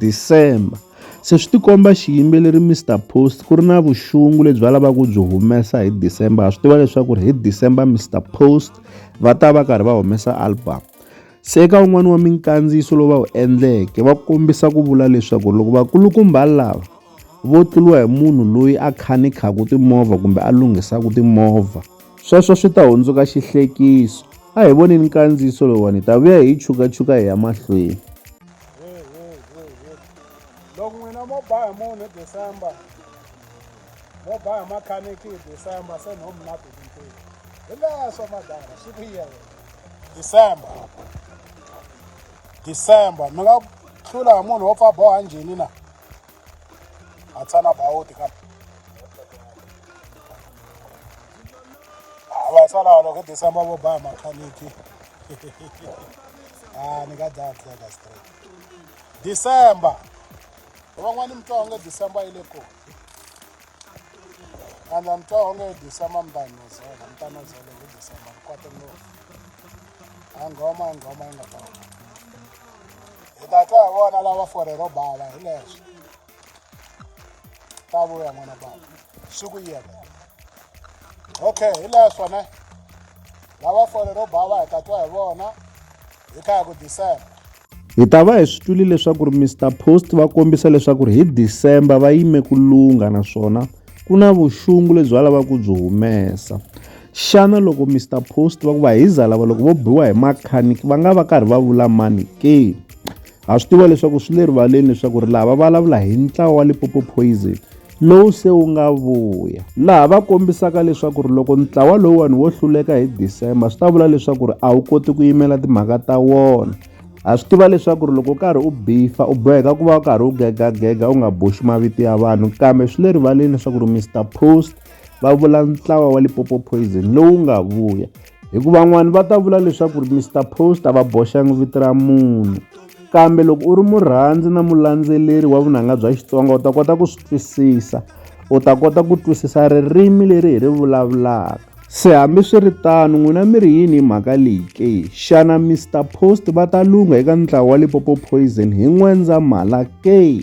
December. Se swi tikomba xiyimbeleri Mr Post ku ri na vuxungu lebyi va lavaka ku byi humesa hi December ha swi tiva leswaku ri hi December Mr Post va ta va karhi va humesa album se eka un'wana wa minkandziyiso lowu va wu endleke va kombisa ku vula leswaku loko vakulukumba lava vo tluliwa hi munhu loyi a khanikhaka timovha kumbe a lunghisaka timovha sweswo swi ta hundzuka xihlekiso a hi voneni nkandziyiso lowuwani hi ta vuya hi yi chukachuka hi ya mahlweni loko n'wina mo ba hi munhu hi december mo ba hi makhaniki hi december se no mi na tivintivi hi leswo madara swi ku yena december december mi nga hlula hi munhu wo pfa boha njhini na a tshana bawuti kambe va sala walo ke disa ma boba ma khaniki ah ni ka da tle ka straight december van'wani mi twa onge december yi le ko andla mi twa onge december mi ta yi nozela mi ta nozela hi december mi kwate no a nghoma a nghoma yi nga ta hi ta twa hi vona lava fore ro bava hi leswo ba vuya n'wana ba swi ku yena okay hi leswo ne lava fole ro ba va hi ta twa hi vona hi kha hi ku december hi ta va hi swi twile leswaku ri mr post va kombisa leswaku ri hi december va yime ku lungha naswona ku na vuxungu lebyi va lavaka ku byi humesa xana loko mr post va ku va hi zalava loko vo biwa hi makhaniki va nga va karhi va vula mani ke Ha swi tiva leswaku swi le rivaleni leswaku ri laha va vulavula hi ntlawa wa Lipopo Poison lowu se wu nga vuya laha va kombisaka leswaku ri loko ntlawa lowuwani wo hluleka hi December swi ta vula leswaku ri a wu koti ku yimela timhaka ta wona ha swi tiva leswaku ri loko u karhi u bifa u boheka ku va u karhi u gegagega u nga boxi mavito ya vanhu kambe swi le rivaleni leswaku ri Mr Post va vula ntlawa wa Lipopo Poison lowu nga vuya hikuva van'wani va ta vula leswaku ri Mister Post a va boxangi vito ra munhu kambe loko u ri murhandzi na mulandzeleri wa vunanga bya Xitsonga u ta kota ku swi twisisa u ta kota ku twisisa ririmi leri hi ri vulavulaka se hambiswiritano n'wina mi ri yini hi mhaka leyi ke xana Mister Post va ta lungha eka ntlawa wa Lipopo Poison hi N'wendzamhala ke